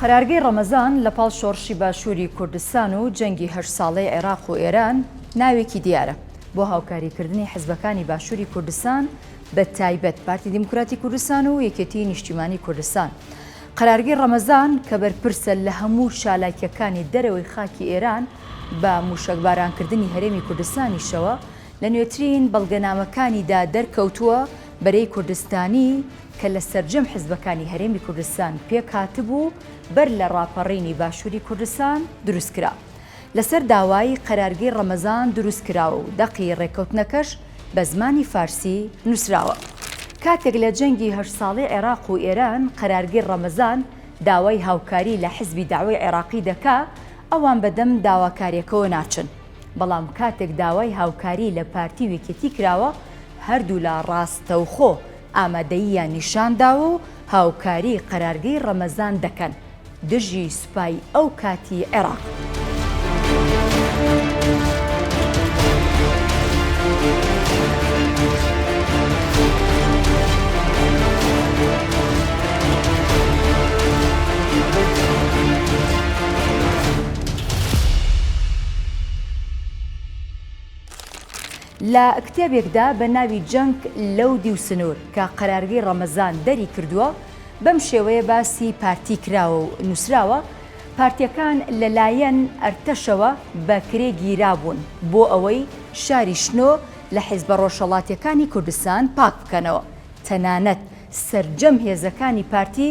قەرارگەی ڕەمەزان لە پاڵ شۆڕشی باشووری کوردستان و جەنگی هەشت ساڵەی عێراق و ئێران ناوێکی دیارە بۆ هاوکاریکردنی حزبەکانی باشووری کوردستان بە تایبەت پارتی دیموکراتی کوردستان و یەکێتی نیشتیمانی کوردستان. قەرارگەی ڕەمەزان کە بەرپرسە لە هەموو چالاکیەکانی دەرەوەی خاکی ئێران بە موشەکبارانکردنی هەرێمی کوردستانیشەوە لە نوێترین بەڵگەنامەکانیدا دەرکەوتووە بەرەی کوردستانی کە لە سەرجەم حزبەکانی هەرێمی کوردستان پێکهاتبوو بەر لە ڕاپەڕینی باشووری کوردستان دروستکرا لەسەر داوای قەرارگەی ڕەمەزان دروستکراوە و دەقی ڕێککەوتنەکەش بە زمانی فارسی نووسراوە کاتێک لە جەنگی هەشت ساڵی عێراق و ئێران قەرارگەی ڕەمەزان داوای هاوکاری لە حزبی دەعوەی عێراقی دەکا ئەوان بەدەم داواکاریەکەوە ناچن. بەڵام کاتێک داوای هاوکاری لە پارتی و یەکێتی کراوە، هەردوولا ڕاستەوخۆ ئامادەییان نیشان داوە و هاوکاری قەرارگەی ڕەمەزان دەکەن دژی سوپای ئەو کاتی عێراق. لە کتێبێکدا بە ناوی جەنگ لەو دیو سنوور کە قەرارگەی ڕەمەزان دەری کردووە، بەم شێوەیە باسی پارتی کراوە و نووسراوە، پارتییەکان لە لایەن ئەرتەشەوە بە کرێ گیرابوون بۆ ئەوەی شاری شنۆ لە حیزبە ڕۆژهەڵاتییەکانی کوردستان پاک بکەنەوە، تەنانەت سەرجەم هێزەکانی پارتی،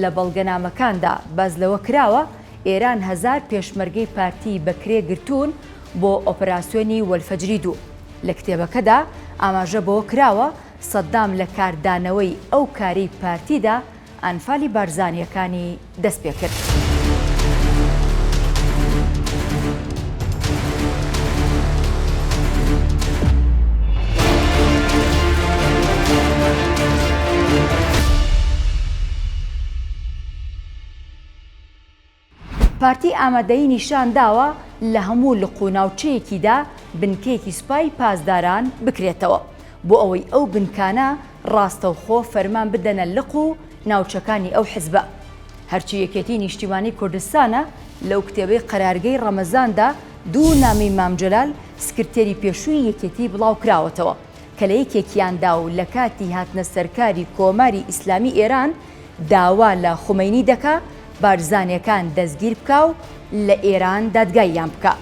لە بەڵگەنامەکاندا باس لەوە کراوە، ئێران هەزار پێشمەرگەی پارتیی بە کرێ گرتوون بۆ ئۆپەراسیۆنی وەلفەجری دوو. لە کتێبەکەدا ئاماژە بەوە کراوە، سەددام لە کاردانەوەی ئەو کارەی پارتیدا ئەنفالی بارزانییەکانی دەست پێ کرد. پارتی ئامادەیی نیشان داوە لە هەموو لق و ناوچەیەکیدا بنکەیەکی سوپای پاسداران بکرێتەوە بۆ ئەوەی ئەو بنکانە ڕاستەوخۆ فەرمان بدەنە لق و ناوچەکانی ئەو حزبە. هەرچی یەکێتی نیشتیمانی کوردستانە، لەو کتێبەی قەرارگەی ڕەمەزاندا دوو نامەی مام جەلال سکرتێری پێشووی یەکێتی بڵاوکراوەتەوە کە لە یەکێکیاندا و لە کاتی هاتنە سەرکاری کۆماری ئیسلامی ئێران داوا لە خومەینی دەکا بارزانیەکان دەستگیر بکا و لە ئێران دادگاییان بکا.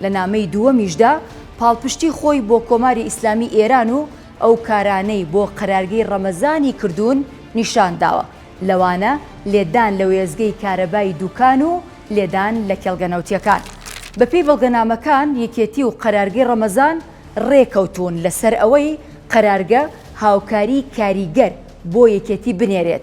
لە نامەی دووەمیشدا پاڵپشتی خۆی بۆ کۆماری ئیسلامی ئێران و ئەو کارانەی بۆ قەرارگەی ڕەمەزانی کردوون نیشان داوە، لەوانە لێدان لە وێستگەی کارەبای دووکان و لێدان لە کێڵگە نەوتییەکان. بەپێی بەڵگەنامەکان، یەکێتی و قەرارگەی ڕەمەزان ڕێککەوتوون لەسەر ئەوەی قەرارگە هاوکاریی کاریگەر بۆ یەکێتی بنێرێت،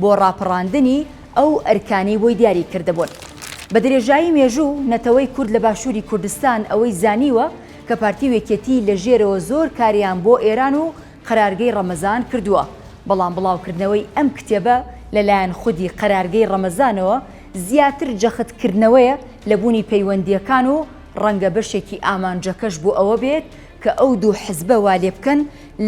بۆ ڕاپەڕاندنی ئەو ئەرکانەی بۆی دیاری کردبوون. بە درێژایی مێژوو نەتەوەی کورد لە باشووری کوردستان ئەوەی زانیوە کە پارتی و یەکێتی لە ژێرەوە زۆر کاریان بۆ ئێران و قەرارگەی ڕەمەزان کردووە، بەڵام بڵاوکردنەوەی ئەم کتێبە لە لایەن خودی قەرارگەی ڕەمەزانەوە زیاتر جەخت کردنەوەیە لە بوونی پەیوەندییەکان و ڕەنگە بەشێکی ئامانجەکەش بۆ ئەوە بێت کە ئەو دوو حزبە وا لێ بکەن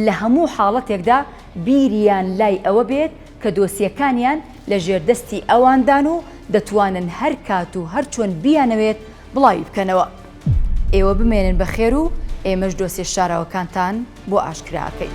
لە هەموو حاڵەتێکدا بیریان لای ئەوە بێت کە دۆسیەکانیان لە ژێردەستی ئەواندان و دەتوانن هەر کات و هەر چۆن بیانەوێت بڵاوی بکەنەوە. ئێوە بمێنن بە خێر و ئێمەش دۆسیە شاراوەکانتان بۆ ئاشکرا ئەکەین.